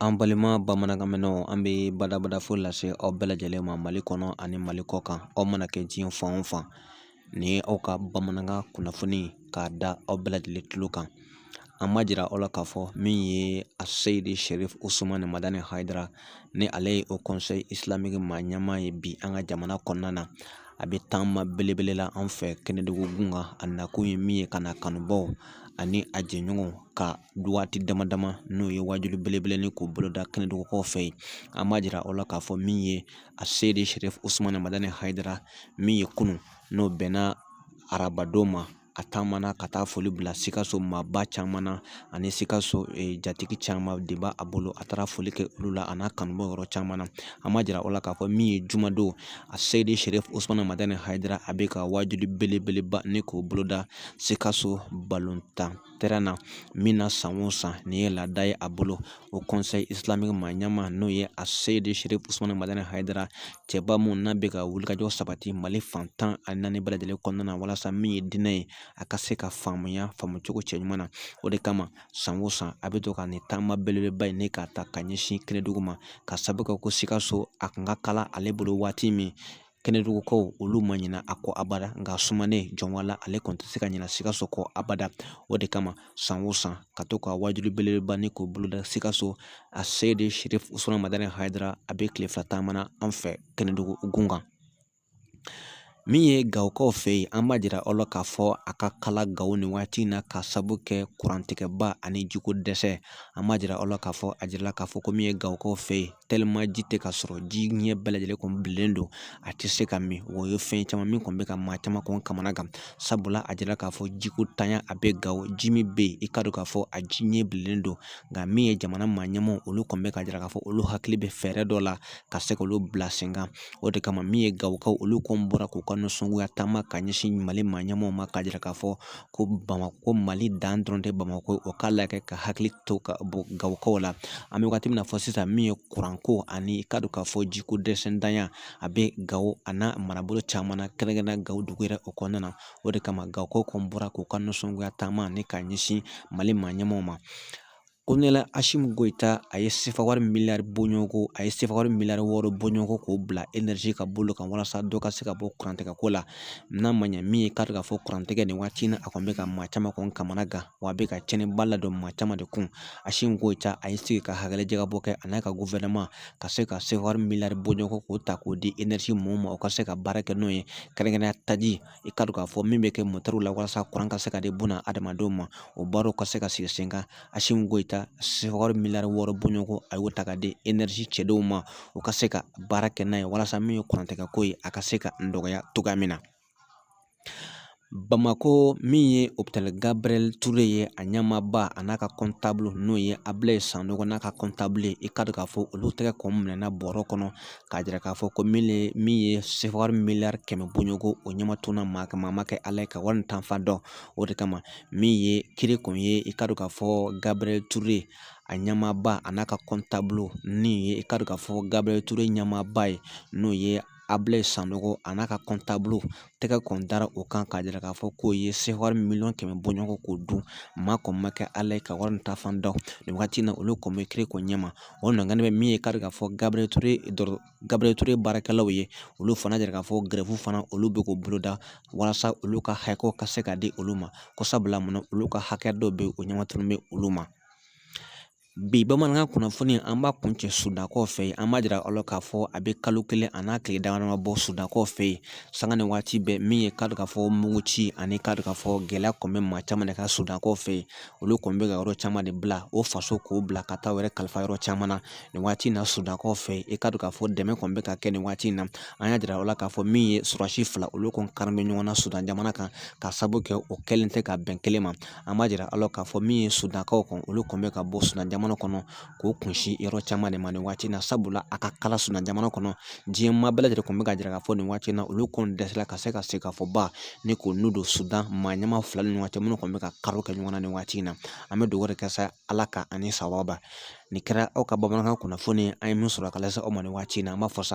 An balima bamanankan mɛnnaw an bɛ badabada fo lase aw bɛɛ lajɛlen ma mali kɔnɔ ani mali kɔ kan aw mana kɛ diɲɛ fan o fan nin ye aw ka bamanankan kunnafoni k'a da aw bɛɛ lajɛlen tulo kan an b'a jira aw la k'a fɔ min ye Aseyidi Sherifu Usumani Madani Hayidara ni ale ye Haut Conseil Islamique maa ɲɛmaa ye bi an ka jamana kɔnɔna na a bɛ taama belebele la an fɛ kɛnɛdugu gun kan a nakun ye min ye ka na kanubaw ani a jɛɲɔgɔnw ka waati dama dama n'o ye wajuli belebele ni k'o boloda kɛnɛdugukaw fɛ yen an b'a jira aw la k'a fɔ min ye Aseyidi Sherifu Usumani Madani Hayidara min ye kunun n'o bɛnna arabadon ma a taamana ka taa foli bila sikaso maaba caman na ani sikaso jatigi caman de b'a bolo a taara foli kɛ olu la a n'a kanubaw yɔrɔ caman na an b'a jira aw la k'a fɔ min ye jumadon Aseyidi Sherifu Usumani Madani Hayidara a bɛ ka wajuli belebeleba ni k'o boloda Sikaso balontan terrain na min na san o san nin ye laada ye a bolo Haut Conseil Islamique maa ɲɛmaa n'o ye Aseyidi Sherifu Usumani Madani Hayidara cɛba mun n'a bɛ ka wulikajɔ sabati mali fan tan ani naani bɛɛ lajɛlen kɔnɔna na walasa min ye diinɛ ye a ka se ka faamuya faamucogo cɛɲuman na o de kama san o san a bɛ to ka nin taama belebeleba in ne k'a ta ka ɲɛsin kɛnɛdugu ma ka sababu kɛ ko sikaso a kun ka kalan ale bolo waati min kɛnɛdugukaw olu ma ɲina a kɔ abada nka sumanen jɔnbala ale kɔni tɛ se ka ɲina sikaso kɔ abada o de kama san o san ka to ka wajuli belebeleba ni k'o boloda sikaso Aseyidi Sherifu Usumani Madani Hayidara a bɛ tile fila taama na an fɛ kɛnɛdugu gun kan min ye gawokaw fɛ yen an b'a jira aw la k'a fɔ a ka kalan gawo nin waati in na ka sabu kɛ kurantigɛba ani jiko dɛsɛ an b'a jira aw la k'a fɔ a jirala k'a fɔ ko min ye gawokaw fɛ yen ji tɛ ka sɔrɔ ji ɲɛ bɛɛ lajɛlen kɔni bilennen don a tɛ se ka min o ye fɛn caman min kɔni bɛ ka maa caman kɔni kamana gan sabula a jira k'a fɔ jiko ntanya a bɛ gawo ji min bɛ yen i k'a dɔn k'a fɔ a ji ɲɛ bilennen don nka min ye jamana maa ɲɛmaaw olu kɔni bɛ k'a jira k'a fɔ olu hakili bɛ fɛɛrɛ dɔ la ka se k'olu bila sen kan o de kama min ye gawokaw olu kɔni bɔra k'u ka nisɔngoya taama ka ɲɛsin mali maa ɲɛmaaw ma k'a jira k'a fɔ ko bamakɔ mali dan dɔrɔn tɛ bamakɔ o k'a lajɛ ka hakili to ka bɔ gawokaw la an bɛ waati min na fɔ sisan min ye kuranko ani i k'a dɔn k'a fɔ jiko dɛsɛntanya a bɛ gawo a n'a marabolo caman na kɛrɛnkɛrɛnnenya gawo dugu yɛrɛ o kɔnɔna na o de kama gawokaw kɔni bɔra k'u ka nisɔngoya taama ni ka ɲɛsin mali maa ɲɛmaaw ma Kolonɛli Asimu Goyita a ye sefa wari miliyari bɔɲɔgɔnko a ye sefa wari miliyari wɔɔrɔ bɔɲɔgɔnko k'o bila enɛrizi ka bolo kan walasa dɔ ka se ka bɔ kurantigɛko la n'a ma ɲɛ min ye k'a dɔn k'a fɔ kurantigɛ nin waati in na a kɔni bɛ ka maa caman kɔni kamana gan wa a bɛ ka tiɲɛniba ladon maa caman de kun Asimu Goyita a ye sigi ka hakililajagabɔ kɛ a n'a ka gufɛrɛnaman ka se ka sefa wari miliyari bɔɲɔgɔnko k'o ta k'o di enɛrizi mɔɔw ma u ka se ka baara kɛ n'o ye kɛrɛnkɛrɛnnenya taji i ka dɔn k'a fɔ min bɛ kɛ motɛriw la walasa kuran ka se ka di buna adamadenw ma o baaraw ka se ka sigi sen kan Asimu Goyita sefawari miliyari wɔɔrɔ bɔɲɔgɔnko a y'o ta ka di enɛrizi cɛdenw ma u ka se ka baara kɛ n'a ye walasa min ye kurantigɛko ye a ka se ka nɔgɔya cogoya min na Bamako min ye opitali Gabriyɛli Ture ye a ɲɛmaaba a n'a ka kɔntabulu n'o ye Abilayi Sanogo n'a ka kɔntabulu ye i ka dɔn k'a fɔ olu tɛgɛ kɔni minɛna bɔrɔ kɔnɔ k'a jira k'a fɔ ko min ye sefawari miliyari kɛmɛ bɔɲɔgɔnko o ɲɛma tununa maa ma kɛ ala ye ka wari nin taa fan dɔn o de kama min ye kiiri kun ye i ka dɔn k'a fɔ gabriyɛli ture a ɲɛmaaba a n'a ka kɔntabulu min ye i ka dɔn k'a fɔ gabriyɛli ture ɲɛmaaba ye n'o ye abilayi sanogo a n'a ka kɔntabulu tɛgɛ kɔni dara o kan k'a jira k'a fɔ k'o ye sefawari miliyɔn kɛmɛ bɔɲɔgɔnko dun maa kɔni ma kɛ ala ye ka wari taa fan dɔn nin wagati in na olu kɔni bɛ kiiri ko ɲɛma o ɲɔgɔn bɛ min ye k'a dɔn k'a fɔ gabriel ture baarakɛlaw ye olu fana jira k'a fɔ gɛrɛfu fana olu bɛ k'u boloda walasa olu ka hakɛw ka se ka di olu ma ko sabula mun olu ka hakɛ dɔw bɛ o ɲɛmatununnen bɛ olu ma bi bamanankan kunnafoni an b'a kuncɛ sudankaw fɛ yen an b'a jira aw la k'a fɔ a bɛ kalo kelen a n'a tile dama dama bɔ sudankaw fɛ yen sanga ni waati bɛɛ min ye k'a dɔn k'a fɔ muguci ani k'a dɔn k'a fɔ gɛlɛya kɔni bɛ maa caman de kan sudankaw fɛ yen olu kɔni bɛ ka yɔrɔ caman de bila o faso k'o bila ka taa u yɛrɛ kalifa yɔrɔ caman na nin waati in na sudankaw fɛ yen i k'a dɔn k'a fɔ dɛmɛ kɔni bɛ ka kɛ nin waati in na an y'a jira aw la k'a fɔ min ye sɔrɔdasi fila olu kɔni kari bɛ ɲɔgɔn na sudan jamana kan ka sabu kɛ o kɛlen tɛ ka bɛn kelen ma an b'a jira aw la k'a fɔ min ye sudankaw kɔni olu kɔni bɛ ka bɔ sudan jamana kɔnɔ k'u kunsin yɔrɔ caman de ma nin waati in na sabula a ka kalan sudan jamana kɔnɔ diɲɛ maa bɛɛ lajɛlen kɔni bɛ ka jira k'a fɔ nin waati in na olu kɔni dɛsɛra ka se ka se ka fɔ ba ni k'u n'u don sudan maa ɲɛmaa fila ni ɲɔgɔn cɛ minnu kɔni bɛ ka karo kɛ ɲɔgɔn na nin waati in na an bɛ dugawu de kɛ sa ala ka ani sababa nin kɛra aw ka bamanankan kunnafoni an ye min sɔrɔ ka lase aw ma nin waati in na an b'a fɔ sa